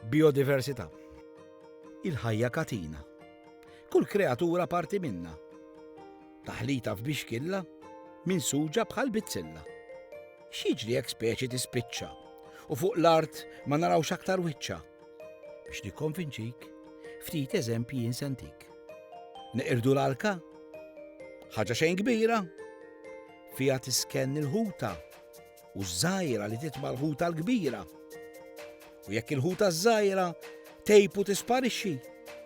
Biodiversità. Il-ħajja katina. Kull kreatura parti minna. Taħlita f'bixkilla minn suġa bħal bizzilla. X'jiġri jekk speċi tispiċċa u fuq l-art ma narawx aktar wiċċa. Biex nikkonvinċik, ftit eżempji jinsentik. Neqirdu l-arka? Ħaġa xejn kbira? Fiha tiskenn il-ħuta u ż-żgħira li titma' l-ħuta l-kbira. U jekk il-ħuta ż-żgħira tejb u tisparixxi,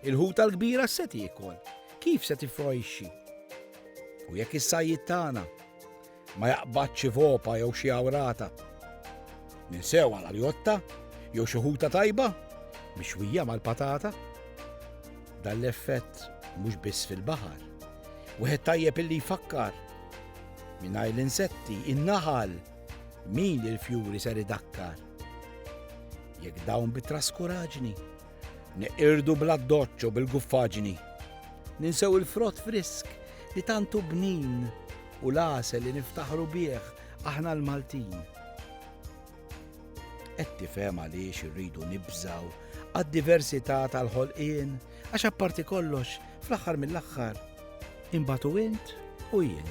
il-ħuta l-kbira se tiekol, kif se tifrojxxi. U jekk is-sajjid tagħna ma jaqbadx xi vopa jew xi awrata, ninsew għal aljotta jew xi ħuta tajba mixwija mal-patata. Dan l-effett mhux biss fil-baħar. Wieħed tajjeb illi jfakkar Mingħajr l-insetti, in-naħal, min il-fjuri ser idakkar? Jekk dawn bit-traskuraġni, neqirdu bla doċċo bil-guffaġni, ninsew il-frott frisk li tantu bnin u l-għasel li niftaħru bih aħna l-Maltin. Qed tifhem għaliex irridu nibżaw għad-diversità tal-ħolqien għax apparti kollox fl-aħħar mill-aħħar imbatu int u jien.